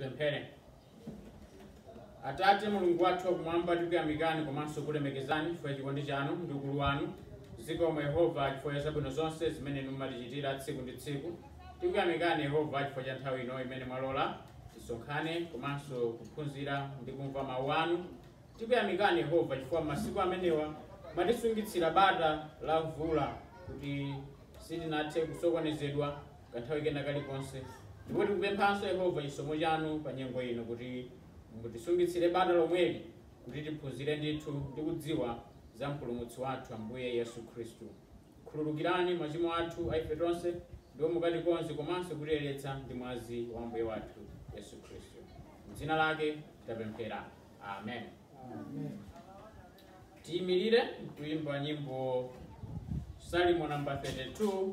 Tipemphere. Atate Mulungu wathu wakumwamba, tikuyamikani komanso kulemekezani chifukwa cha chikondi chanu ndi ukulu wanu. Zikomo Yehova chifukwa cha zabwino zonse zimene inu mumatichitira tsiku ndi tsiku. Tikuyamikani Yehova chifukwa cha nthawi ino imene mwalola tisonkhane komanso kuphunzira ndi kumva mawu anu. Tikuyamikani Yehova chifukwa masiku amenewa mwatisungitsira bata la mvula kuti sitinathe kusokonezedwa kanthawi kena kalikonse. Ndipo tikupemphanso, Yehova, chisomo chanu pa nyengo ino kuti mutisungitsire bata lomweli, kuti tiphunzire ndithu ndi kudziwa za Mpulumutsi wathu Ambuye Yesu Khristu. Khululukirani machimo athu a ife tonse, ndipo mukatikonze komanso kutiyeretsa ndi mwazi wa Ambuye wathu Yesu Khristu. M'dzina lake tapemphera. Amen. Tiyimirire kuimba nyimbo Salimo namba 32.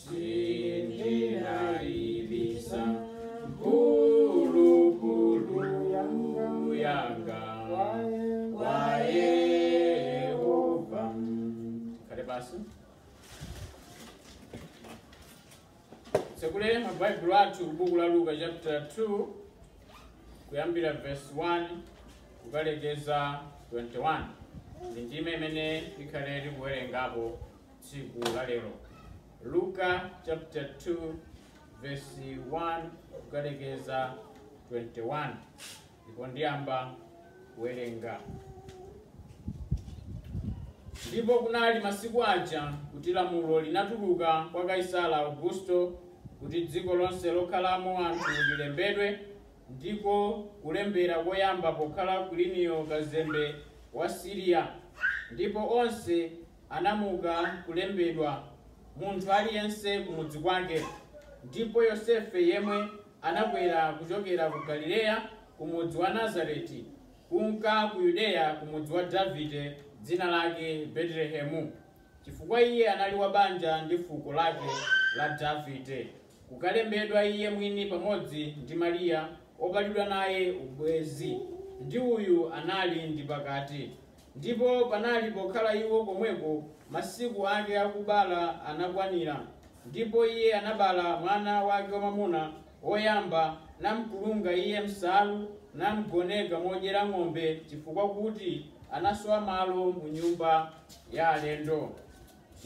Sindinaibisa mphulupulu yanga kwa Yehova. Abale, titsekule mabaibulo athu kubuku la Luka chapter 2 kuyambira verse 1 kukalekeza 21 ndi ndime imene ikhale tikuwerengapo tsiku la lero. Luka chapter 2 verse 1 kukalekeza 21 ndipo ndiyamba kuwerenga ndipo kunali masiku aja kuti lamulo linatuluka kwa Kaisala Augusto kuti dziko lonse lokhalamo anthu lilembedwe ndiko kulembera koyamba pokhala Kwiliniyo kazembe wa Siriya ndipo onse anamuka kulembedwa, munthu aliyense kumudzi kwake, ndipo Yosefe yemwe anakwera kuchokera ku Galileya, kumudzi wa Nazareti, kunka ku Yudeya, kumudzi wa Davide, dzina lake Betelehemu, chifukwa iye anali wa banja ndi fuko lake la Davide, kukalembedwa iye mwini pamodzi ndi Mariya, opatidwa naye ubwenzi, ndi uyu anali ndi pakati. Ndipo panali, pokhala iwo komweko, masiku ake akubala anakwanira, ndipo iye anabala mwana wake wamwamuna woyamba, namkulunga iye m'nsalu, namgoneka modyera ng'ombe, chifukwa kuti anasowa malo mu nyumba ya alendo.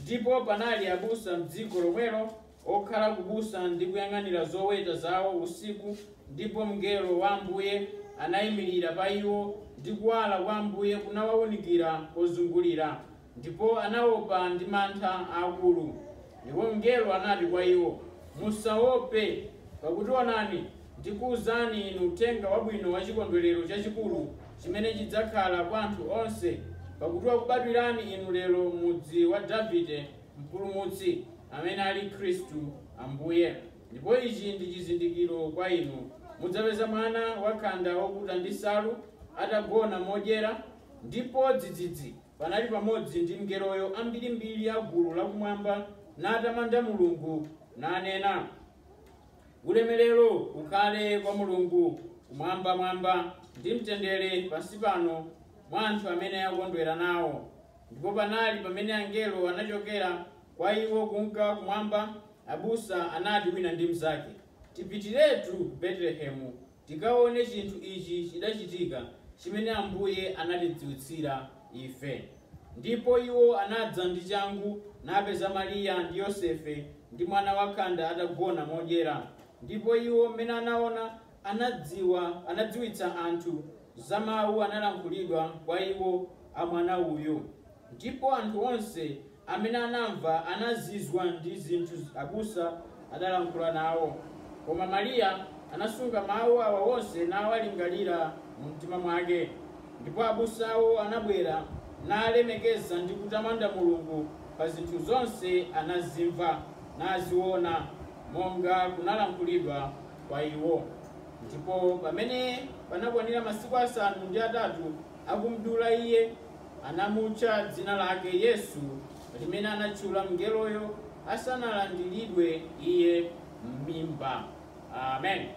Ndipo panali abusa m'dziko lomwelo, okhala kubusa ndi kuyang'anira zoweta zawo usiku, ndipo mngelo wa Ambuye anaimirira pa iwo, ndi kuwala kwa Ambuye kunawaunikira pozungulira, ndipo anaopa ndi mantha aakulu. Ndipo mngelo anati kwa iwo, Musaope, pakuti onani, ndikuuzani inu uthenga wabwino wa chikondwerero chachikulu chimene chidzakhala kwa anthu onse, pakuti wakubadwirani inu lero m'mudzi wa Davide Mpulumutsi, amene ali Khristu Ambuye. Ndipo ichi ndi chizindikiro kwa inu, mudzapeza mwana wakhanda wokuta ndi nsalu, atagona modyera. Ndipo dzidzidzi, panali pamodzi ndi mngeloyo ambirimbiri a gulu lakumwamba, natamanda Mulungu, nanena. Ulemerero ukhale kwa Mulungu kumwambamwamba, ndi mtendere pansi pano mwa anthu amene akondwera nawo. Ndipo panali pamene angelo anachokera kwa iwo kunka kumwamba, abusa anati wina ndi mnzake, Tipitiretu ku Betelehemu, tikaone chinthu ichi chidachitika, chimene Ambuye anatidziwitsira ife. Ndipo iwo anadza ndi changu, napeza Mariya ndi Yosefe, ndi mwana wakhanda atagona modyera, ndipo iwo, m'mene anaona, anadziwa, anadziwitsa anthu za mawu analankhulidwa kwa iwo a mwana uyu. Ndipo anthu onse amene anamva anazizwa ndi zinthu abusa adalankhula nawo. Koma Mariya anasunga mawu awa onse nawalingalira mumtima mwake. Ndipo abusawo anabwera, nalemekeza ndi kutamanda Mulungu pa zinthu zonse anazimva, naziona, monga kunalankhulidwa kwa iwo. Ndipo pamene panakwanira masiku asanu ndi atatu. akumdula Iye, anamutcha dzina lake Yesu, limene anatchula mngeloyo asanalandiridwe Iye m'mimba. Amen.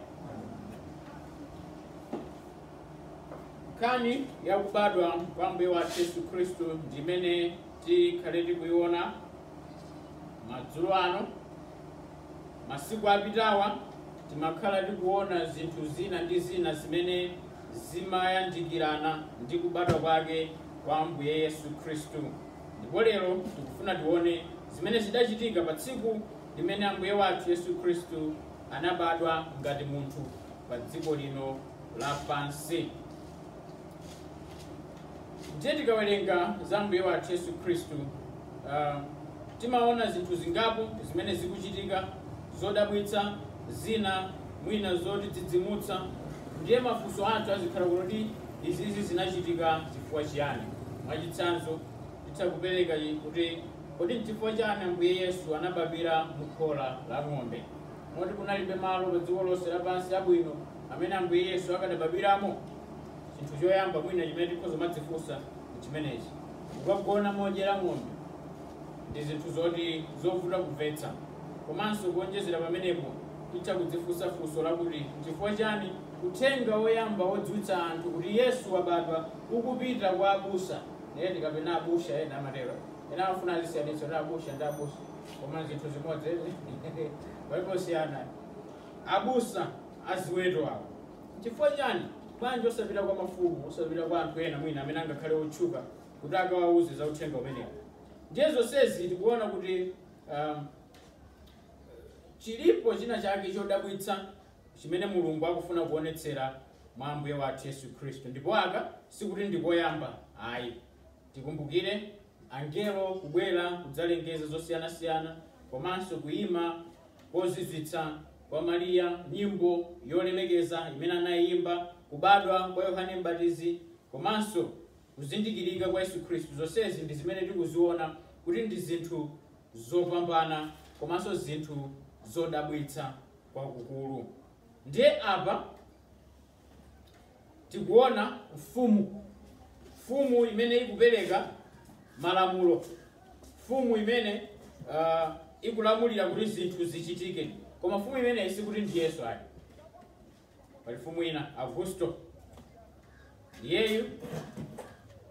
Nkhani ya kubadwa kwa Ambuye wathu Yesu Khristu ndi imene tikhale tikuiona madzulo ano. Masiku apitawa timakhala tikuona zinthu zina ndi zina zimene zimayandikirana ndi kubadwa kwake kwa Ambuye Yesu Khristu. Ndipo lero tikufuna tione zimene zidachitika pa tsiku limene Ambuye wathu Yesu Khristu anabadwa ngati munthu pa dziko lino lapansi. Ndiye tikawerenga za Ambuye wathu Yesu Khristu, ah, timaona zinthu zingapo zimene zikuchitika zodabwitsa zina mwina zotidzidzimutsa. Ndiye mafunso athu azikhala kuti izizi zinachitika chifukwa chiyani? Mwachitsanzo, titha kupereka kuti kodi n'chifukwa chani Ambuye Yesu anabadwira mu khola la ng'ombe? Moti kunalibe malo pa dziko lonse lapansi abwino amene Ambuye Yesu akadabadwiramo? chinthu choyamba mwina chimene tikhoza kumadzifunsa chimenechi kukagona modyera ng'ombe ndi zinthu zoti zovuta kumvetsa komanso kuonjezera pamenepo titha kudzifunsa funso lakuti n'chifukwa chani uthenga woyamba wodziwitsa anthu kuti yesu wabadwa ukupita kwa abusa eni kapena abusha ena amatero ena amafuna azisiyanitsa ndi abusha ndi abusa koma chinthu chimodzi eni aposiyana abusa aziweto awo N'chifukwa chani? Bwanji osapita kwa mafumu, osapita kwa anthu ena mwina amene angakhale otchuka kuti akawauze za uthenga umenewo? Ndiye zonsezi tikuona kuti um, chilipo china chake chodabwitsa chimene mulungu akufuna kuonetsera mwa ambuye wathu yesu khristu ndipo aka sikuti ndi koyamba ayi Tikumbukire angelo kubwera kudzalengeza zosiyanasiyana komanso kuyima kozizwitsa kwa Maria, nyimbo yolemekeza imene anayiyimba, kubadwa kwa Yohane M'batizi komanso kuzindikirika kwa Yesu Khristu zonsezi ndi zimene tikuziwona kuti ndi zinthu zopambana komanso zinthu zodabwitsa kwakukulu. Ndiye apa tikuona mfumu, mfumu imene ikupereka malamulo, mfumu imene uh, ikulamulira kuti zinthu zichitike. Koma mfumu imeneyi sikuti ndi Yesu ayi, pali mfumu ina Augusto, iyeyu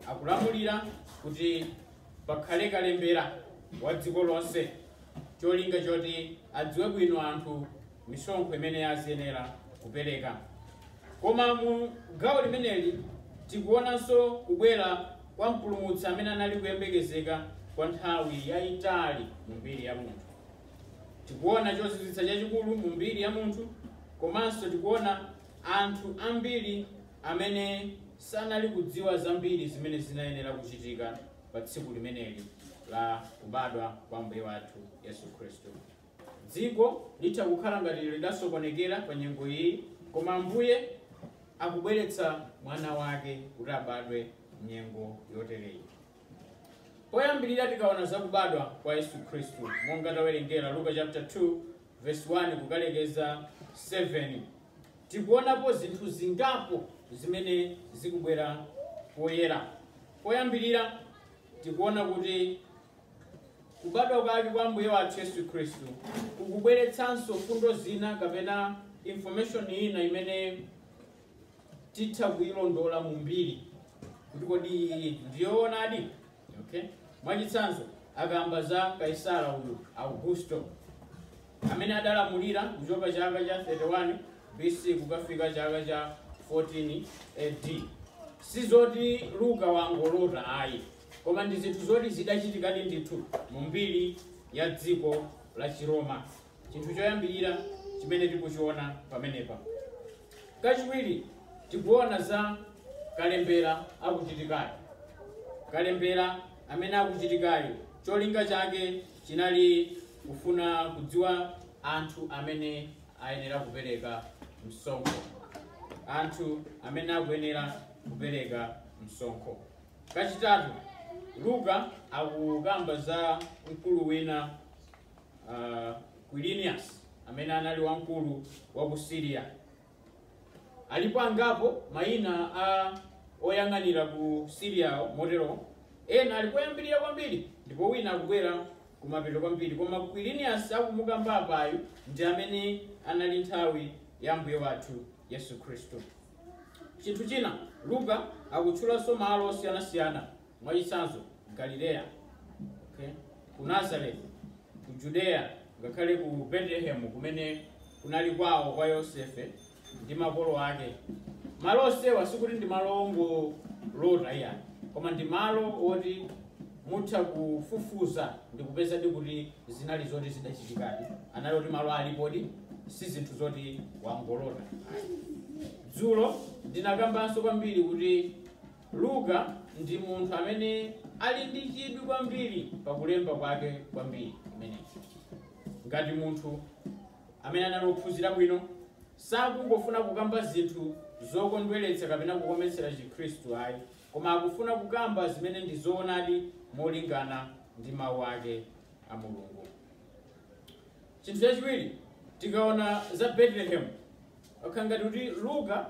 akulamulira kuti pakhale kalembera wa dziko lonse, cholinga choti adziwe bwino anthu misonkho imene aziyenera kupereka. Koma mu gawo limeneli tikuonanso kubwera kwa mpulumutsi amene anali kuyembekezeka kwa nthawi yayitali mu mbiri ya munthu. Tikuona chozizwitsa chachikulu mu mbiri ya munthu komanso tikuona anthu ambiri amene sanali kudziwa zambiri zimene zinayenera kuchitika pa tsiku limeneli la kubadwa kwa Ambuye wathu Yesu Khristu. Dziko litha kukhala ngati lidasokonekera pa nyengo iyi, koma Ambuye akubweretsa mwana wake kuti abadwe m'nyengo yotereyi. Poyambirira tikaona za kubadwa kwa Yesu Khristu monga tawerengera Luka chapter 2 verse 1 kukalekeza 7 tikuonapo zinthu zingapo zimene zikubwera poyera. Poyambirira tikuona kuti Kubadwa kwake kwa Ambuye wathu Yesu Khristu kukubweretsanso mfundo zina kapena information ina imene titha kuyilondola mu mbiri kuti kodi ndiyoonadi okay mwachitsanzo akamba za kaisara uyu augusto amene adalamulira kuchoka chaka cha 31 bc kukafika chaka cha 14 ad sizoti luka wangolota ayi koma ndi zinthu zoti zidachitikadi ndithu mu mbiri ya dziko la chiroma chinthu choyambirira chimene tikuchiona pamenepa kachiwiri tikuona za kalembera akuchitikayo kalembera amene akuchitikayo cholinga chake chinali kufuna kudziwa anthu amene ayenera kupereka msonkho anthu amene akuyenera kupereka msonkho Kachitatu, Luka akukamba za mkulu wina uh, Quirinius amene anali wamkulu wa ku Syria. Alipo angapo mayina a oyang'anira ku Syria motero ena ali koyambirira kwambiri ndipo wina akubwera kumapeto kwambiri koma Quirinius akumukamba apayu ndi amene anali nthawi ya Mbuye wathu Yesu Khristu. Chinthu china, Luka akutchulanso malo osiyanasiyana, mwachitsanzo, Galileya, okay, ku Nazareth, ku Judeya, ngakhale ku Betelehemu kumene kunali kwawo kwa Yosefe ndi makolo ake. Malo onsewa sikuti ndi malo ongolota ayi, koma ndi malo oti Mutha kufufuza ndikupezadi kuti zinali zoti zidachitikadi. Anali oti malo alipodi, si zinthu zoti wangolota ayi. Dzulo ndinakambanso kwambiri kuti Luka ndi munthu amene ali ndi chidwi kwambiri pa kulemba kwake kwa mbiri imeneyi. Ngati munthu amene anali wophunzira bwino sakungofuna kukamba zinthu zokondweretsa kapena kukometsera Chikhristu ayi, koma akufuna kukamba zimene ndi zoonadi molingana ndi mawu ake a mulungu chinthu chachiwiri tikaona za betelehemu pakukhala ngati kuti luka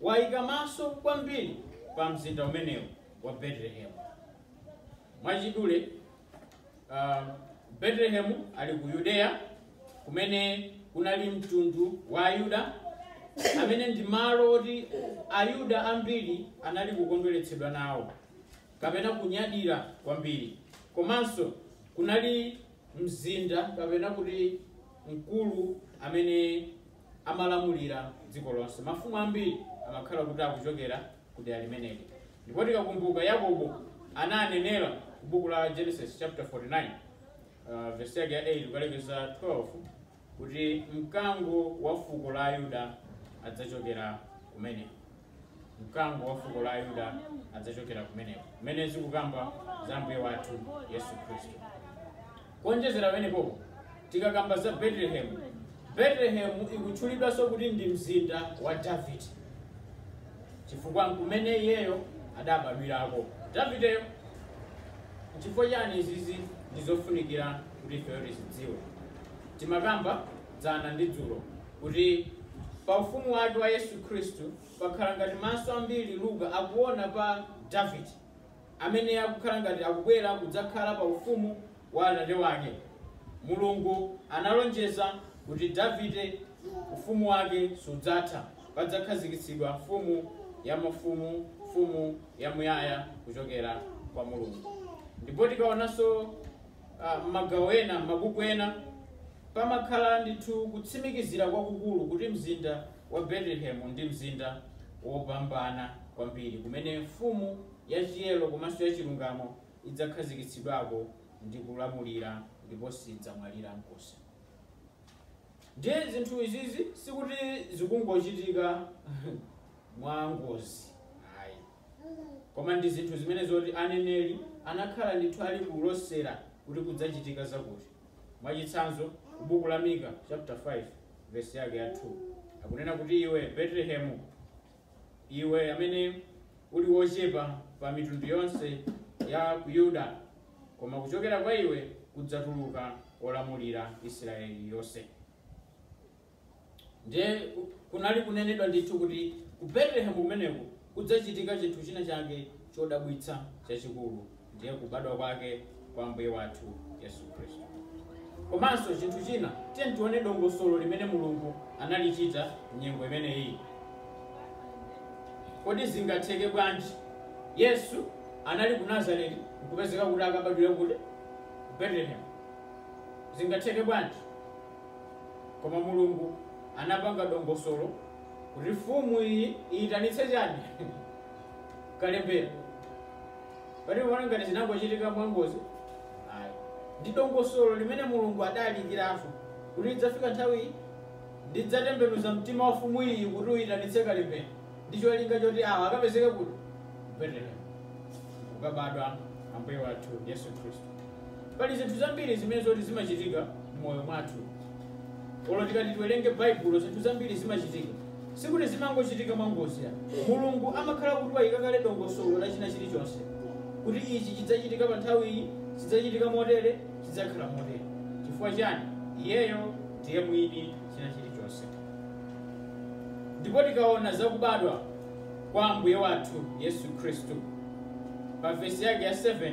wayika maso kwambiri pa mzinda umenewu wa betelehemu mwachidule uh, Betelehemu ali ku Yudeya kumene kunali mtundu wa Ayuda amene ndi malo oti Ayuda ambiri anali kukondweretsedwa nawo kapena kunyadira kwambiri komanso kunali mzinda kapena kuti mkulu amene amalamulira dziko lonse mafumu ambiri amakhala kuti akuchokera kudera limeneli. Ndipo tikakumbuka Yakobo ananenera ku buku la Genesis chapter 49 uh, verse yake ya 8 kukalekeza 12 kuti mkango wa fuko la Ayuda adzachokera kumeneko. Mkango wa fuko la Ayuda adzachokera kumeneko. Kumene zikukamba za Ambuye wathu Yesu Khristu. Kuonjezera pamenepo, tikakamba za Betelehemu, Betelehemu ikutchulidwanso kuti ndi mzinda wa Davide chifukwa nkumene iyeyo adabadwirako Davideyo. Nchifukwa chani izizi ndi zofunikira kuti ifeyo tizidziwe? Timakamba dzana ndi dzulo kuti pa ufumu wake wa Yesu Khristu pakhala ngati maso ambiri Luka akuona pa Davide amene akukhala ngati akubwera kudzakhala pa ufumu wa atate wake. Mulungu analonjeza kuti Davide ufumu wake sudzatha, padzakhazikitsidwa Mfumu ya mafumu, Mfumu yamuyaya kuchokera kwa Mulungu. Ndipo tikaonanso ah, m'magawo ena, m'mabuku ena, pamakhala ndithu kutsimikizira kwakukulu kuti mzinda wa Betelehemu ndi mzinda wopambana kwambiri kumene Mfumu yachiyero komanso yachilungamo idzakhazikitsidwako ndi kulamulira ndipo sidzamwalira nkomwe. Ndiye zinthu izizi sikuti zikungochitika mwangozi ayi, koma ndi zinthu zimene zoti aneneri anakhala ndithu ali kulosera kuti kudzachitika zakuti. Mwachitsanzo, ku buku la Mika chapter 5 vesi yake ya 2 akunena kuti iwe Betelehemu, iwe amene uli wochepa pa mitundu yonse ya ku Yuda, koma kuchokera kwa iwe kudzatuluka wolamulira Israeli yonse. ndiye ku- kunali kunenedwa ndithu kuti ku betelehemu kumeneko kudzachitika chinthu china chake chodabwitsa chachikulu ndiye kubadwa kwake kwa mbuye wathu yesu khristu komanso chinthu china tiye tione dongosolo limene mulungu analichita mnyengo imeneyi kodi zingatheke bwanji yesu anali ku nazareti nkupezeka kuti akabadwira kuti ku betelehemu zingatheke bwanji Koma Mulungu anapanga dongosolo kuti fumu iyi iyitanitse chani kalembera. Pali oona ngati zinangochitika mwangozi? Ayi. Ndi dongosolo limene Mulungu adaliyikiratu kuti idzafika nthawi iyi ndidzatembenuza mtima wa fumu iyi kuti uyitanitse kalembera ndi cholinga choti awa akapezeke kuti? Ku Betelehemu. Kukabadwa Ambuye wathu Yesu Khristu. Pali zinthu zambiri zimene zoti zimachitika m'moyo mwathu. Olo tikati tiwerenge Baibulo, zinthu zambiri zimachitika. Sikuti zimangochitika mwangozi ya. Mulungu amakhala kuti wayika kale dongosolo la china chilichonse. Kuti ichi chidzachitika pa nthawi iyi, chidzachitika motere, chidzakhala motere. Chifukwa chani? Iyeyo ndiye mwini china chilichonse. Ndipo tikaona zakubadwa kwa Ambuye wathu Yesu Khristu. Pa vesi yake ya 7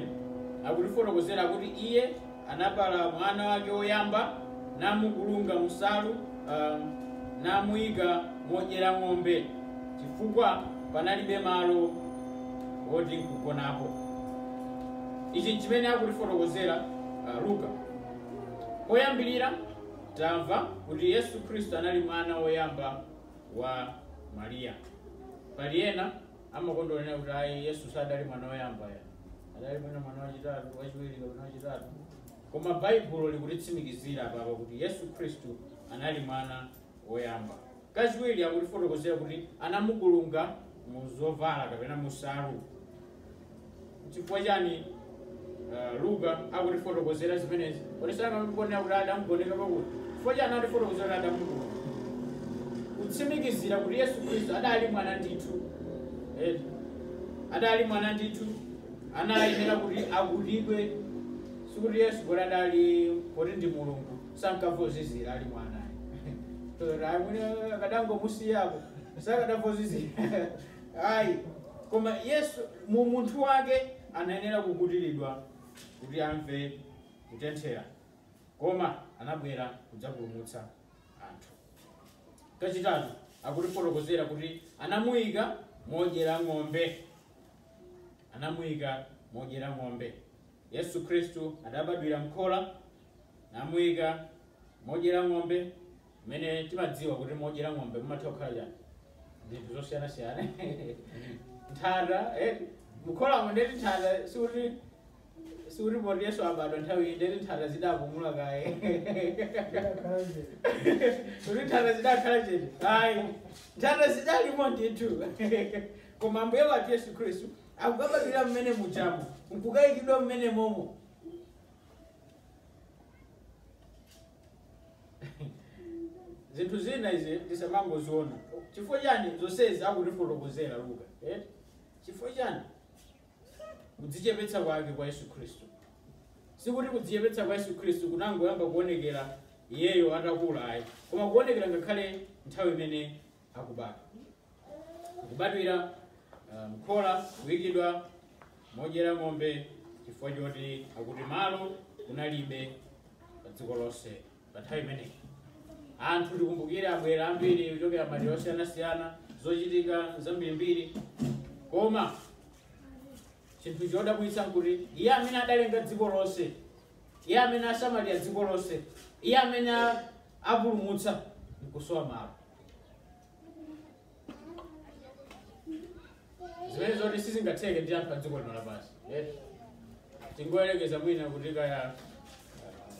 akutifotokozera kuti iye anabala mwana wake woyamba namukulunga munsalu um, namuyika modyera ng'ombe chifukwa panalibe malo woti nkugonapo ichi nchimene akutifotokozera uh, luka poyambirira tamva kuti yesu khristu anali mwana woyamba wa mariya pali ena amakonda kunena kuti ayi yesu sadali mwana woyamba ya adali mwina mwana wachitatu wachiwiri kapena wachitatu koma baibulo likutitsimikizira apapa kuti yesu khristu anali mwana woyamba kachiwiri akutifotokozera kuti anamukulunga mu zovala kapena munsalu N'chifukwa chani uh, Luka akutifotokozera zimenezi? Kodi sanangonena kuti adamugoneka pakuti? Chifukwa chani akutifotokozera kuti adamukulunga? Kutsimikizira kuti Yesu Khristu adali mwana ndithu. Eh, adali mwana ndithu anayenera kuti akutidwe sikuti yesu kuti adali kuti ndi mulungu sankamva kuzizira ali mwana Tsono amene akadangomusiyapo sakadamva kuzizira Ayi, koma Yesu mu umunthu wake anayenera kukutiridwa kuti amve kutenthera, koma anabwera kudzapulumutsa anthu. Kachitatu, akutifotokozera kuti anamuika modyera ng'ombe. Anamuika modyera ng'ombe. Yesu Khristu adabadwira m'khola, namuika modyera ng'ombe mmene timadziwa kuti modyera ng'ombe mumatha kukhala chani zinthu zosiyanasiyana nthata eh, mukholamo ndeti nthata sikuti sikuti poti yesu abadwa nthawi iyi ndeti nthata zidapumula kaye kuti nthata zidakhala chete ayi nthata zidalimo ndithu koma ambuye wathu yesu khristu akukabadwira mmene mujamo nkukayikidwa mmene momo zinthu zina izi tisamangoziona chifukwa chani zonsezi akutifotokozera luka eh? chifukwa chani kudzichepetsa kwake kwa yesu khristu sikuti kudzichepetsa kwa yesu khristu kunangoyamba kuonekera iyeyo atakula ayi koma kuonekera ngakhale nthawi imene akubadwa kubadwira ah, mkhola kuyikidwa modyera ng'ombe chifukwa choti akuti malo kunalibe pa dziko lonse pa nthawi imeneyi anthu tikumbukire abwera ambiri kuchokera madera osiyanasiyana zochitika zambirimbiri koma chinthu chodabwitsa nkuti iye amene adalenga dziko lonse Iye amene asamalira dziko lonse, Iye amene apulumutsa nkusowa malo. zimene zoti sizingatheke ndi anthu a dziko lino lapansi eh? tingoyerekeza mwina kuti kaya eh,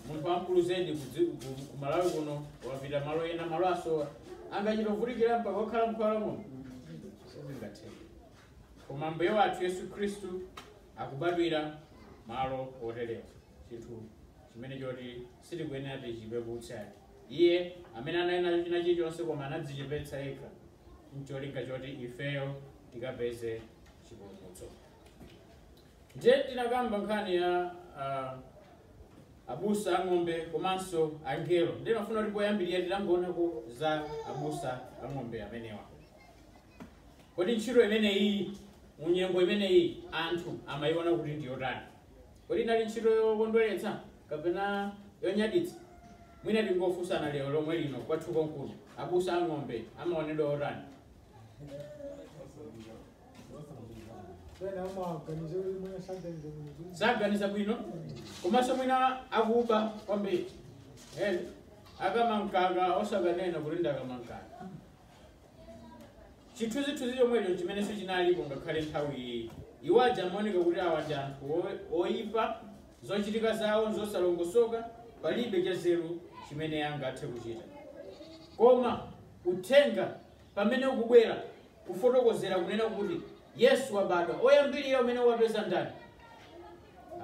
munthu wamkulu zedi ku malawi kuno wapita malo ena malo asowa angachita kuvutikira mpaka okhala mkhola muno sizingatheke koma Ambuye wathu Yesu Khristu akubadwira malo oterewa chinthu chimene choti sitikuyenera tichipeputsa iye amene anali nacho china chilichonse koma anadzichepetsa yekha ncholinga choti ifeyo tikapeze chipulumutso ndiye tinakamba nkhani ya ah, abusa a ng'ombe komanso angelo ndimafuna kuti poyambirira titangoonako za abusa a ng'ombe amenewa Kodi ntchito imeneyi mu nyengo imeneyi anthu amayiona kuti ndi yotani? Kodi inali ntchito yokondweretsa kapena yonyaditsa? Mwina tingofunsana lero lomwe lino kwathu konkuno, abusa a ng'ombe amaonedwa otani? saganiza bwino komanso mwina akuba kwambiri Eh, akamakakama osakanena kuti ndakama mkaka chithunzithunzi chomwecho chimenenso chinalipo ngakhale nthawi iyi iwo aja amaoneka kuti awa ndi anthu o- oyipa zochitika zawo nzosalongosoka palibe chanzeru chimene angathe kuchita koma uthenga pamene ukubwera kufotokozera kunena kuti yesu wabadwa oyambirira umene wapeza ndani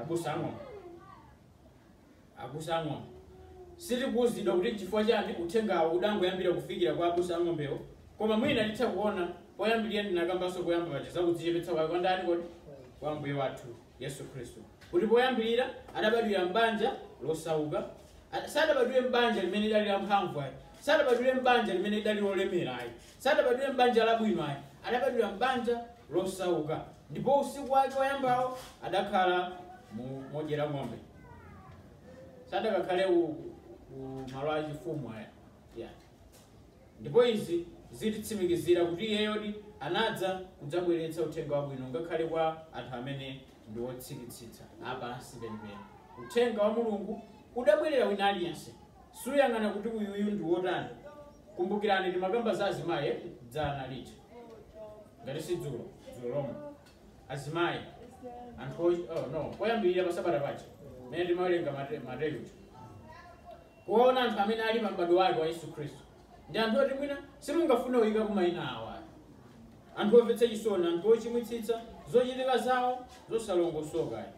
abusa a ng'ombe Abusa a ng'ombe. Sitikuuzidwa kuti n'chifukwa chani uthengawo udangoyambira kufikira kwa abusa a ng'ombewo, koma mwina titha kuona poyambirira ndinakambanso poyamba paja za kudzichepetsa kwake kwa ndani kodi? Kwa Ambuye wathu Yesu Khristu. Kuti poyambirira adabadwira m'banja losauka. A, sadabadwire m'banja limene lidali la mphamvu ayi. Sadabadwire m'banja limene lidali lolemera ayi. Sadabadwire m'banja labwino ayi. Adabadwira m'banja losauka. Ndipo usiku wake woyambawo adakhala modyera ng'ombe. sadakakhale kumalo achifumu ayayi ndipo izi zititsimikizira kuti iyeyodi anadza kudzabweretsa uthenga wabwino ngakhale kwa anthu amene ndi otsikitsitsa apansi penipeni uthenga wa mulungu udabwerera wina aliyense suyang'ana kuti uyuyu ndi wotani kumbukirani timakamba za azimayi dzana lija ngati si dzulo dzulo lomwe azimayi anthu poyambirira pasabata paja mene timawerenga Mate- mateyu kuona anthu amene ali pa m'bado wake wa yesu khristu ndi anthu oti mwina simungafune kuyikapo mayina awo ayi anthu omvetsa chisoni anthu ochimwitsitsa zochitika zawo zosalongosoka ayi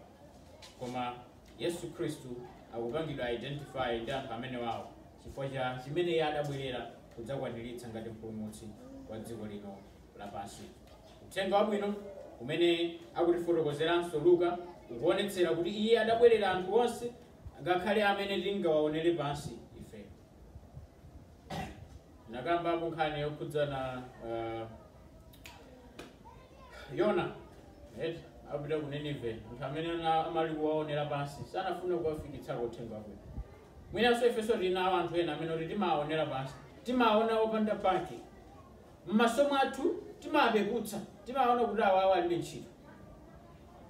koma yesu khristu akupangidwa identify ndi anthu amenewawo chifukwa cha chimene iye adabwerera kudzakwaniritsa ngati mpulumutsi wa dziko lino lapansi Uthenga Wabwino umene akutifotokozeranso Luka ukuonetsera kuti Iye adabwerera anthu onse, ngakhale amene tingawaonere pansi ifeyo. Nakambapo nkhani yokhudzana uh, Yona atapita ku Nineve, anthu amene ana- amali kuwaonera pansi sanafuna kuwafikitsako uthenga wabwino. Mwinanso ifenso tinawo anthu ena amene oti timawaonera pansi, timawaona opanda pake, M'maso mwathu timawapeputsa, timawaona kuti awawa alibe ntchito.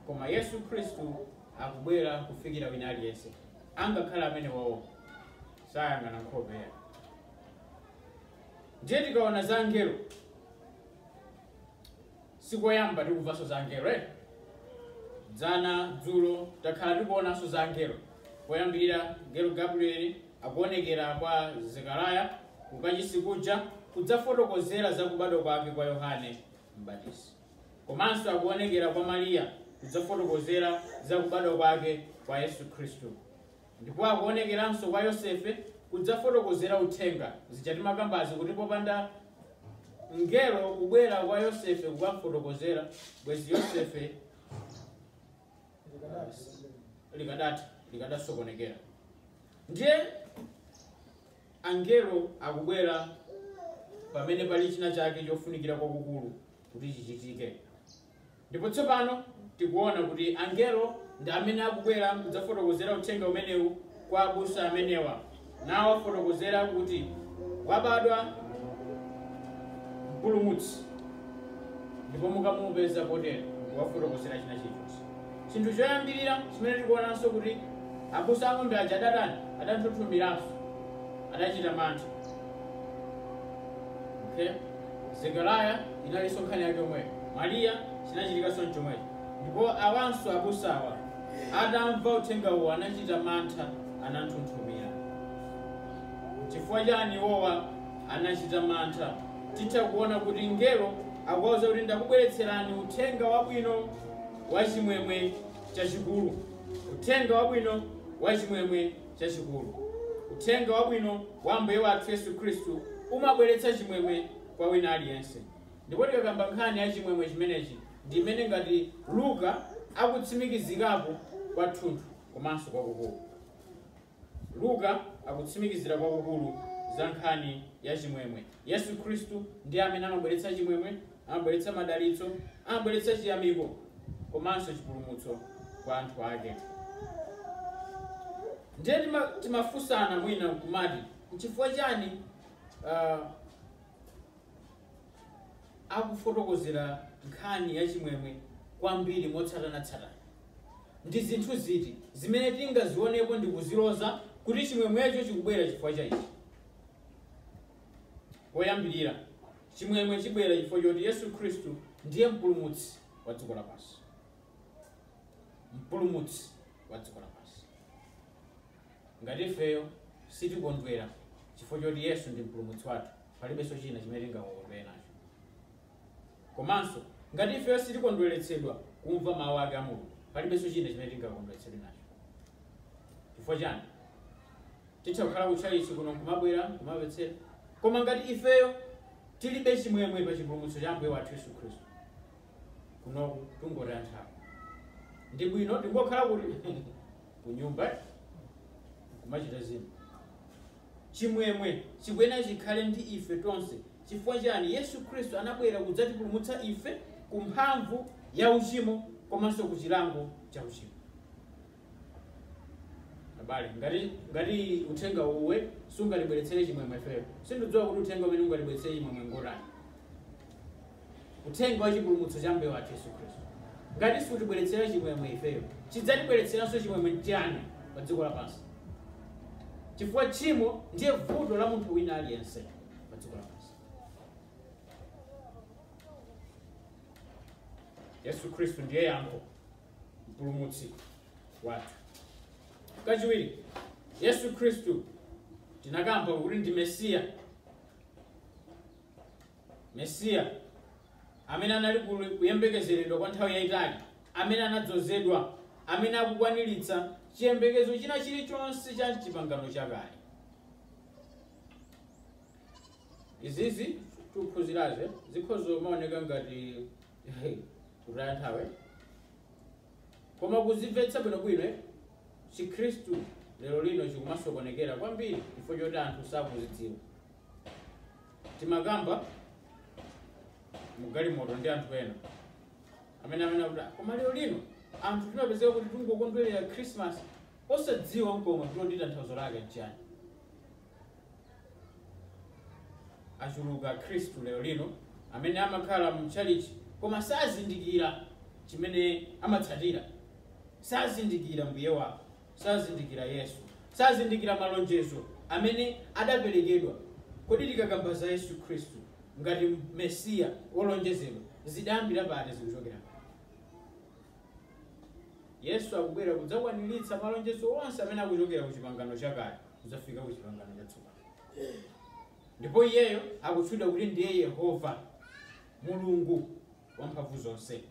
Koma Yesu Khristu akubwera kufikira wina aliyense, angakhale amenewowo sayang'ana nkhope yawo. Ndiye tikaona za angelo, sikoyamba tikumvanso za angelo eh? dzana dzulo takhala tikuonanso za angelo poyambirira ngelo gabrieli akuonekera kwa Zekariah ku kachisi kuja kudzafotokozera za kubadwa kwake kwa Yohane Mbatizi. Komanso akuonekera kwa Mariya kudzafotokozera za kubadwa kwake kwa Yesu Khristu. Ndipo akuonekeranso kwa Yosefe kudzafotokozera uthenga zija timakambazi kuti popanda mngelo kubwera kwa Yosefe kukamfotokozera bwezi Yosefe likadati likadasokonekera ndiye angelo akubwera pamene pali china chake chofunikira kwakukulu kuti chichitike ndipo tsopano tikuona kuti angelo ndi amene akubwera kudzafotokozera uthenga umenewu kwa abusa amenewa nawo afotokozera kuti wabadwa mpulumutsi ndipo mukamupeza potero wafotokozera china chilichonse chinthu choyambirira chimene tikuonanso kuti abusa ang'ombe aja adatani adanthunthumiranso adachita mantha okay zekariya inalinso nkhani yake yomweyo mariya chinachitikanso mchomwecho ndipo awanso abusawa atamva uthenga uwo anachita mantha ananthunthumira. N'chifukwa chani iwowa anachita mantha? Titha kuona kuti mngelo akuwauza kuti ndakubweretserani uthenga wabwino wa chimwemwe chachikulu. Uthenga wabwino wa chimwemwe chachikulu. Uthenga wabwino wa Ambuye wathu Yesu Khristu umabweretsa chimwemwe kwa wina aliyense. Ndipo tikakamba nkhani ya chimwemwe chimenechi ndi imene ngati Luka akutsimikizikapo kwathunthu. komanso kwakukulu. Luka akutsimikizira kwakukulu za nkhani ya chimwemwe. Yesu Khristu ndiye amene amabweretsa chimwemwe, amabweretsa madalitso, amabweretsa chiyamiko komanso chipulumutso kwa anthu ake. Ndiye tima- timafunsana mwina kumati nchifukwa chani ah, akufotokozera nkhani ya chimwemwe kwambiri motsatanatsatana? Ndi zinthu ziti zimene tingazionepo ndi kuziloza kuti chimwemwecho chikubwera chifukwa cha ichi? Poyambirira, chimwemwe chibwera chifukwa choti Yesu Khristu ndiye mpulumutsi wa dziko lapansi. Mpulumutsi wa dziko lapansi. Ngati ifeyo sitikondwera chifukwa choti Yesu ndi mpulumutsi wathu, palibenso china chimene tingakondwere nacho komanso ngati ifeyo sitikondweretsedwa kumva mawu ake a mulungu palibenso china chimene tingakondweretsedwe nacho chifukwa chani titha kukhala kutchalitchi kuno kumabwera kumamvetsera koma ngati ifeyo tilibe chimwemwe pa chipulumutso cha ambuye wathu yesu khristu kunoku tungotaya nthawi ndi bwino tingokhala kuti kunyumba kumachita zinthu Chimwemwe chikuyenera chikhale ndi ife tonse. Chifukwa chiyani? Yesu Khristu anabwera kudzatipulumutsa ife ku mphamvu ya uchimo komanso ku chilango cha uchimo. Abale, ngati ngati uthenga uwu sungatibweretsere chimwemwe ifeyo, sindidziwa kuti uthenga umene ungatibweretsere chimwemwe ngotani. Uthenga wa chipulumutso cha Ambuye wathu Yesu Khristu. Ngati sutibweretsera chimwemwe ifeyo, chidzatibweretseranso chimwemwe nchiyani pa dziko lapansi? Chifukwa tchimo ndiye vuto la munthu wina aliyense pa dziko lapansi. Yesu Khristu ndiye yankho, mpulumutsi wathu. Kachiwiri, Yesu Khristu tinakamba kuti ndi Mesiya Mesiya, amene anali kuyembekezeredwa kwa nthawi yayitali, amene anadzozedwa, amene akukwaniritsa chiyembekezo china chilichonse cha chipangano chakale. Izizi tikuphunzirazi zikhoza kumaoneka ngati kutaya nthawi, koma kuzimvetsa bwinobwino eh, Chikhristu lero lino chikumasokonekera kwambiri chifukwa choti anthu sakuzidziwa. timakamba mugalimoto ndi anthu ena amene amene akuti "Ah, koma lero lino anthu timapezeka kuti tingokondwerera christmas osadziwa nkomwe kuti tanthauzo lake nchiyani achuluka akhristu lero lino amene amakhala mu chalichi koma sazindikira chimene amatsatira sazindikira mbuye wawo sazindikira Yesu, sazindikira malonjezo amene adaperekedwa. Kodi tikakamba za Yesu Khristu ngati Mesiya wolonjezedwa zidayambira pati? Zikuchokera pati? Yesu akubwera kudzakwaniritsa malonjezo onse amene akuchokera ku chipangano chakale kudzafika ku chipangano chatsopano ndipo iyeyo akutchedwa kuti ndiye yehova mulungu wamphamvu zonse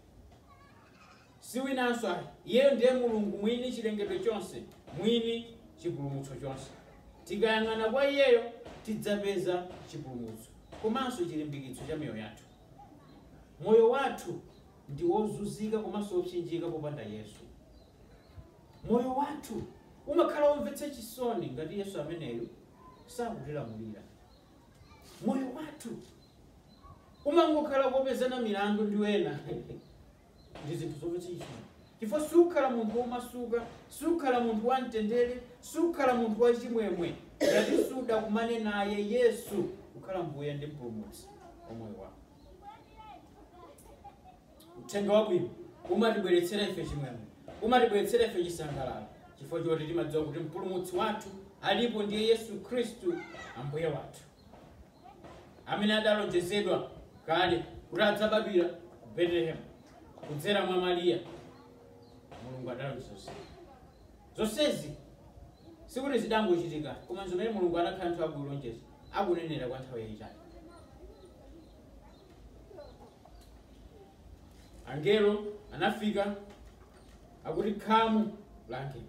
Si winanso ayi, iyeyo ndiye Mulungu mwini chilengedwe chonse, mwini chipulumutso chonse. Tikayang'ana kwa iyeyo tidzapeza chipulumutso komanso chilimbikitso cha miyoyo yathu. Moyo wathu ndi wozunzika komanso wopsinjika popanda Yesu. Moyo wathu umakhala womvetsa chisoni ngati Yesu ameneyu sakutilamulira. Moyo wathu umangokhala kopezana milandu ndi ena ndi zinthu zochitika chifukwa sukhala munthu womasuka sukhala munthu wamtendere sukhala munthu wachimwemwe ngati sudakumane naye yesu kukhala mbuye ndi mpulumutsi wa moyo wako uthenga wabwino umatibweretsera ife chimwemwe umatibweretsera ife chisangalalo chifukwa choti timadziwa kuti mpulumutsi wathu alipo ndiye yesu khristu ambuye wathu amene adalonjezedwa kale kuti adzabadwira ku betelehemu kudzera mwa mariya mulungu adalonjeza zonsezi sikuti zidangochitika koma zimene mulungu anakhala nthawi akulonjeza akunenera kwa nthawi yayitali angelo anafika akuti khamu la angelo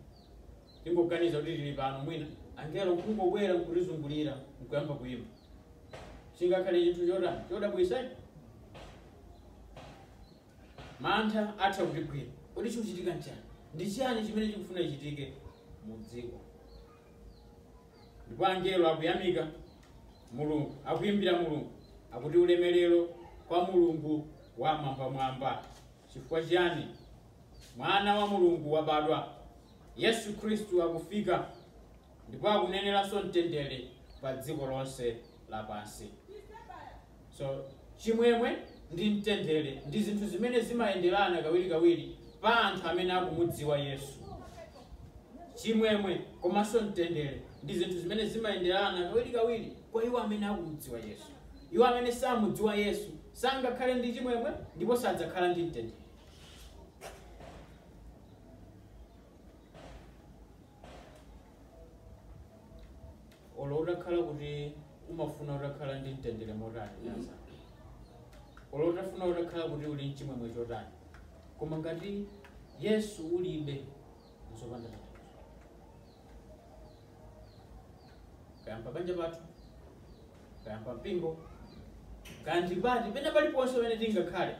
tingoganiza kuti tili pano mwina angelo nkungobwera nkutizungulira nkuyamba kuyimba chingakhale chinthu chodabwitsa mantha atha kutigwira kodi chikuchitika nchani ndi chiyani chimene chikufuna chichitike mu dziko ndipo angelo akuyamika mulungu akuyimbira mulungu akuti ulemerero kwa mulungu wamwambamwamba chifukwa chiyani Mwana wa Mulungu wabadwa! Yesu Khristu akufika ndipo akuneneranso mtendere pa dziko lonse lapansi. So chimwemwe ndi mtendere ndi zinthu zimene zimayenderana kawirikawiri pa anthu amene akumudziwa Yesu. Chimwemwe komanso mtendere ndi zinthu zimene zimayenderana kawirikawiri kwa iwo amene akumudziwa Yesu. Iwo amene samudziwa Yesu sangakhale ndi chimwemwe ndipo sadzakhala ndi mtendere. olo utakhala kuti umafuna utakhala ndi mtendere motani nasa olo utafuna utakhala kuti uli mchimwemwe chotani koma ngati yesu ulibe nzopanda tanthauzo kaya mpabanja pathu kaya pampingo kaya ndi pati pena paliponse pamene tingakhale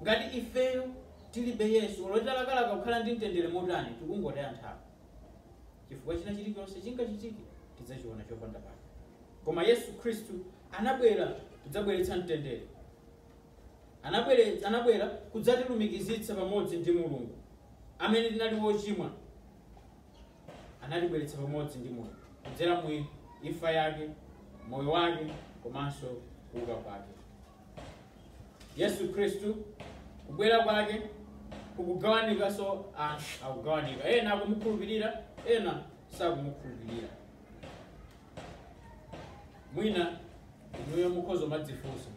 ngati ifeyo tilibe yesu olo talakalaka kukhala ndi mtendere motani tikungotaya nthawi chifukwa china chilichonse chingachitike tidzachiona chopanda pake koma yesu khristu anabwera kudzabweretsa mtendere Anabwere- anabwera kudzatilumikizitsa pamodzi ndi mulungu amene tinali ochimwa anatibweretsa pamodzi ndi moyo kudzera mu imfa yake moyo wake komanso kuuka kwake yesu khristu kubwera kwake kukugawanikanso anthu akugawanika ena akumukhulupirira ena sakumukhulupirira mwina inuyo mukhoza kumadzifunsa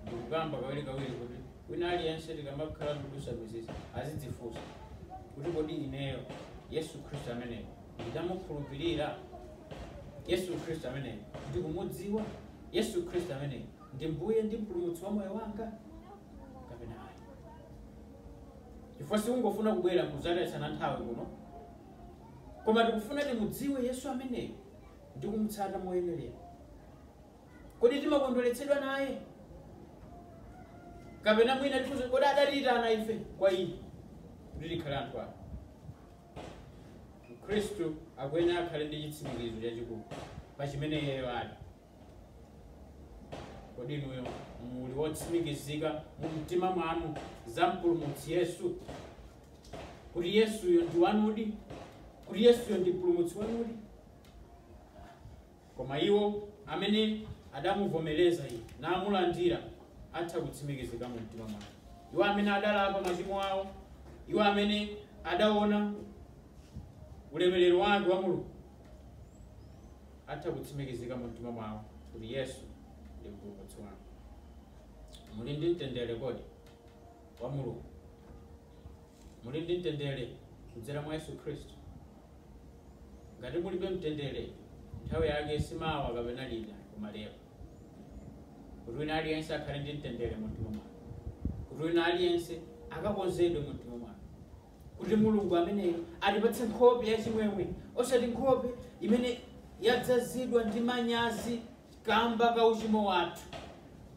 ndikukamba kawirikawiri kuti wina aliyense tikamakhala ndikudusa mizisi azidzifunsa kuti kodi ineyo yesu khristu ameneyo ndidamukhulupirira yesu khristu ameneyo ndikumudziwa yesu khristu ameneyo ndi mbuye ndi mpulumutsi wa moyo wanga kapena ayi chifukwa sikungofuna kubwera kudzatayitsana nthawi kuno koma tikufuna timudziwe Yesu ameneyo ndi kumutsata moyenerera. Kodi timakondweretsedwa naye kapena mwina tifunse kodi adatiyitana ife kwa iye kuti tikhale anthu ake? Mkhristu akuyenera akhale ndi chitsimikizo chachikulu pa chimene iyeyo ali. kodi inuyo muli wotsimikizika mu mtima mwanu za mpulumutsi yesu kuti yesuyo ndi wanudi kuti yesuyo ndi mpulumutsi wanudi koma iwo amene adamuvomereza iye namulandira atha kutsimikizika mu mtima mwake iwo amene adalapa machimo awo iwo amene adaona ulemerero wake wa mulungu atha kutsimikizika mu mtima mwawo kuti Yesu ndi mpulumutsi wanu. Muli ndi mtendere kodi wa Mulungu? Muli ndi mtendere kudzera mwa Yesu Khristu? Ngati mulibe mtendere, nthawi yake si mawa kapena lina koma lero. Kuti wina aliyense akhale ndi mtendere mu mtima mwake. Kuti wina aliyense akakonzedwe mu mtima mwake. kuti Mulungu ameneyo atipatse nkhope yachimwemwe, osati nkhope imene yadzazidwa ndi manyazi kamba ka uchimo wathu,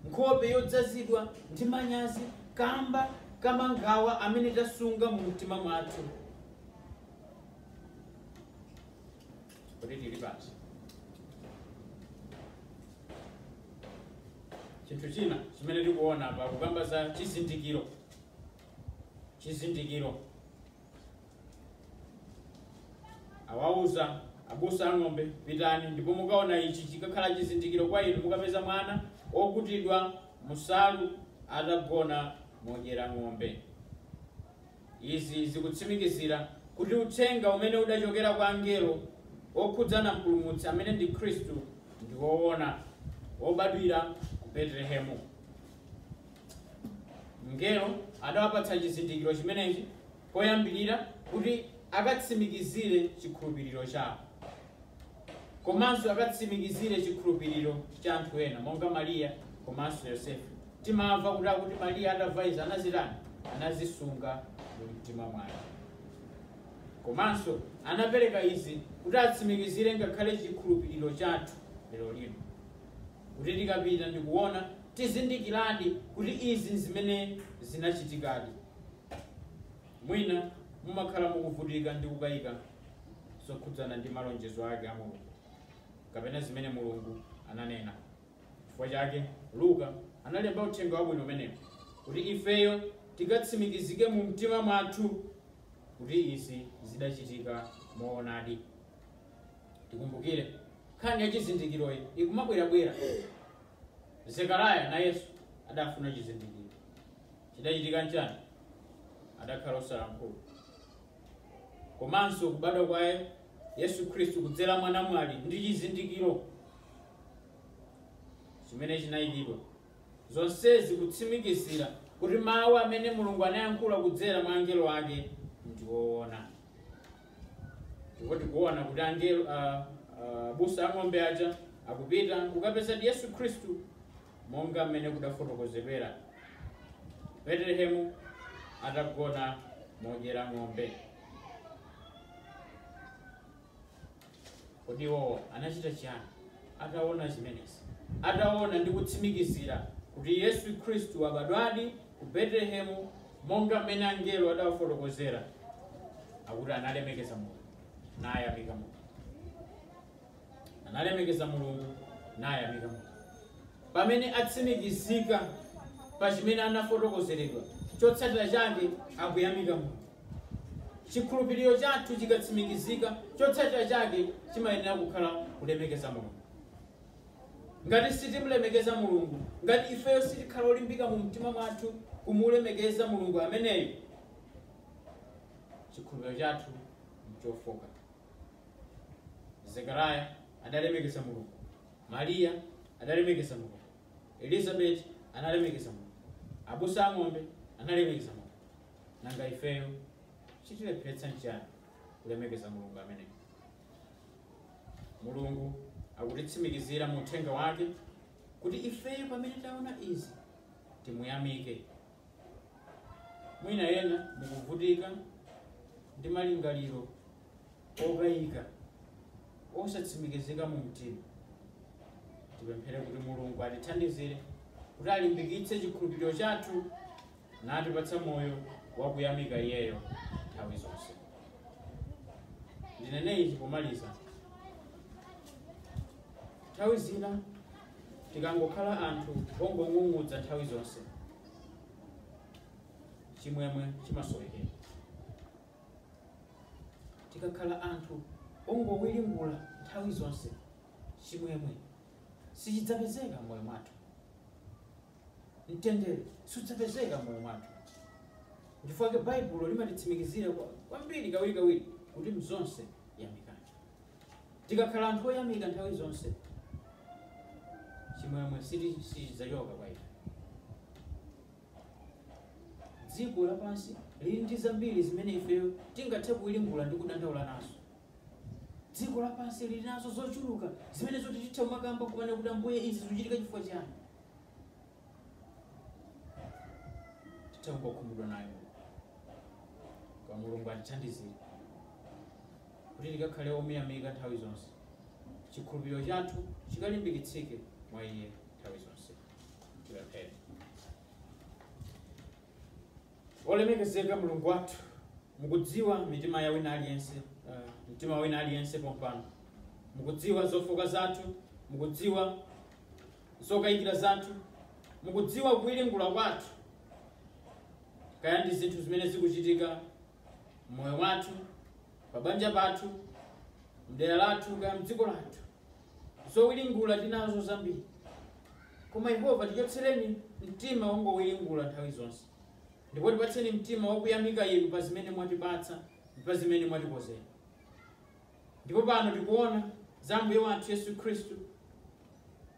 nkhope yodzazidwa ndi manyazi kamba ka mangawa amene tasunga mu mtima mwathu. Kodi tili pati? Chinthu china chimene tikuona apa kukamba za chizindikiro chizindikiro awauza abusa ang'ombe pitani ndipo mukaona ichi chikakhala chizindikiro kwa inu mukapeza mwana okutidwa munsalu atagona modyera ng'ombe izi zikutsimikizira kuti uthenga umene udachokera kwa angelo okhudzana mpulumutsi amene ndi khristu ndi woona wobadwira ku betelehemu Mngelo adawapatsa chizindikiro chimenechi poyambirira kuti akatsimikizire chikhulupiriro chawo komanso akatsimikizire chikhulupiriro cha anthu ena monga Mariya komanso Yosefe. Timamva kuti akuti Mariya atamva izi anazitani? Anazisunga mu mtima mwake. Komanso anapereka izi kuti atsimikizire ngakhale chikhulupiriro chathu lero lino. kuti tikapita ndikuona tizindikiradi kuti izi nzimene zinachitikadi. Mwina mumakhala mukuvutika ndi kukayika zokhudzana ndi malonjezo ake a Mulungu kapena zimene Mulungu ananena. Chifukwa chake Luka analemba uthenga wabwino umenewu kuti ifeyo tikatsimikizike mu mtima mwathu kuti izi zidachitika moonadi. tikumbukire nkhani ya chizindikiroyi ikumabwerabwera zekaraya nayenso adafuna chizindikiro chidachitika nchani adakhala osalankhula komanso kubadwa kwa yesu khristu kudzera mwa namwali ndi chizindikiro chimene chinayikidwa zonsezi kutsimikizira kuti mawu amene mulungu anayankhula kudzera mwa angelo ake ndi woona ndipo tikuona kuti angelo a- abusa a ng'ombe aja akupita kukapezadi yesu khristu monga mmene kudafotokozedwera betelehemu atagona modyera ng'ombe Kodi iwo anachita chiyani ataona zimenezi? Ataona ndi kutsimikizira kuti Yesu Khristu wabadwadi ku Betelehemu monga mmene angelo adawafotokozera, akuti analemekeza Mulungu, nayamika Mulungu. Analemekeza Mulungu, nayamika Mulungu. Pamene atsimikizika pa chimene anafotokozeredwa, chotsatira chake akuyamika Mulungu. Chikhulupiriro chathu chikatsimikizika, chotsatira chake chimayenera kukhala kulemekeza Mulungu. Ngati sitimulemekeza Mulungu, ngati ifeyo sitikhala olimbika mu mtima mwathu kumulemekeza Mulungu ameneyo, chikhulupiriro chathu nchofoka. Zekaraya adalemekeza Mulungu, Mariya adalemekeza Mulungu, Elizabeti analemekeza Mulungu, abusa a ng'ombe analemekeza Mulungu. Nanga ifeyo chitilepheretsa nchiyani kulemekeza Mulungu ameneyo? Mulungu akutitsimikizira mu uthenga wake kuti ifeyo pamene taona izi timuyamike. Mwina ena mukuvutika ndi malingaliro okayika osatsimikizika mu mtima. Tipemphere kuti Mulungu atithandizire kuti alimbikitse chikhulupiriro chathu natipatsa moyo wakuyamika Iyeyo nthawi zonse. Ndinene ichi pomaliza, nthawi zina tikangokhala anthu ongong'ung'udza nthawi zonse, chimwemwe chimasowekera. Tikakhala anthu ongowiringula nthawi zonse, chimwemwe sichidzapezeka m'moyo mwathu. mtendere sudzapezeka m'moyo mwathu. Nchifukwa chake Baibulo limatitsimikizira kwambiri kawirikawiri kuti mzonse yamikani. Tikakhala anthu oyamika nthawi zonse, chimwemwe siti- sichidzachoka kwa ife. Dziko lapansi lili ndi zambiri zimene ifeyo tingathe kuwiringula ndi kudandaula nazo. Dziko lapansi lili nazo zochuluka zimene zoti titha kumakamba kumene kuti ambuye izi zikuchitika chifukwa chiyani. titha kungokhumudwa nayo koma mulungu atithandizire kuti tikakhale omuyamika nthawi zonse chikhulupiriro chathu chikalimbikitsike mwa iye nthawi zonse tipemphere olemekezeka mulungu wathu mukudziwa mitima ya wina aliyense uh, mtima wa wina aliyense pompano mukudziwa zofooka zathu mukudziwa zokayikira zathu, mukudziwa kuwiringula kwathu, kaya ndi zinthu zimene zikuchitika mmoyo wathu, pa banja pathu, mdera lathu, kaya mdziko lathu. Zowiringula tili nazo zambiri, koma Yehova tichotsereni mtima wongowiringula nthawi zonse, ndipo tipatseni mtima wakuyamika Inu pa zimene mwatipatsa ndi pa zimene mwatikonzera. Ndipo pano tikuona za Mbuye wathu Yesu Khristu,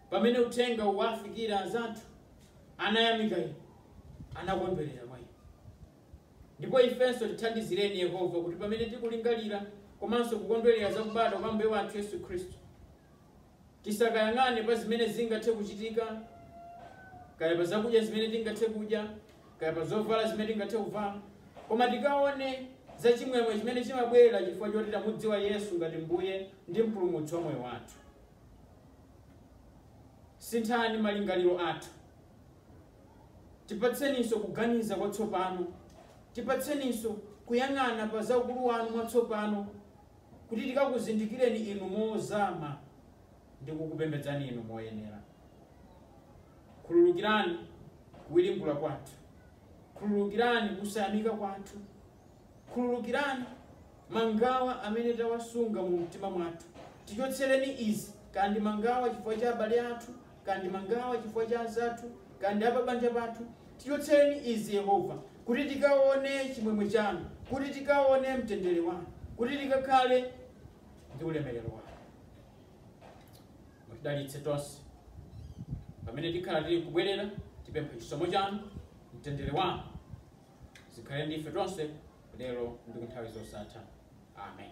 pamene uthenga unawafikira anzathu, anayamika Inu, anakondwerera mwa Inu. Ndipo ifenso tithandizireni Yehova kuti pamene tikulingalira komanso kukondwerera za kubadwa kwa Ambuye wathu Yesu Khristu, tisakayang'ane pa zimene zingathe kuchitika, kaya pa zakudya zimene tingathe kudya, kaya pa zovala zimene tingathe kuvala, koma tikaone za chimwemwe chimene chimabwera chifukwa choti tamudziwa Yesu ngati Mbuye ndi Mpulumutsi wa moyo wathu. Sinthani malingaliro athu, tipatseninso kuganiza kwatsopano, tipatseninso kuyang'ana pa za ukulu wanu mwatsopano kuti tikakuzindikireni Inu mozama ndi kukupembedzani Inu moyenera. Khululukirani kuwiringula kwathu, khululukirani kusayamika kwathu, khululukirani mangawa amene tawasunga mu mtima mwathu. Tichotsereni izi, kaya ndi mangawa chifukwa cha abale athu, kaya ndi mangawa chifukwa cha anzathu, kaya ndi apabanja pathu, tichotsereni izi, Yehova, kuti tikaone chimwemwe chanu, kuti tikaone mtendere wanu, kuti tikakhale ndi ulemerero wanu. Mutidalitse tonse pamene tikhala tili kubwerera, tipempha chisomo chanu, mtendere wanu zikhale ndi ife tonse lero ndi ku nthawi zosatha. Amen.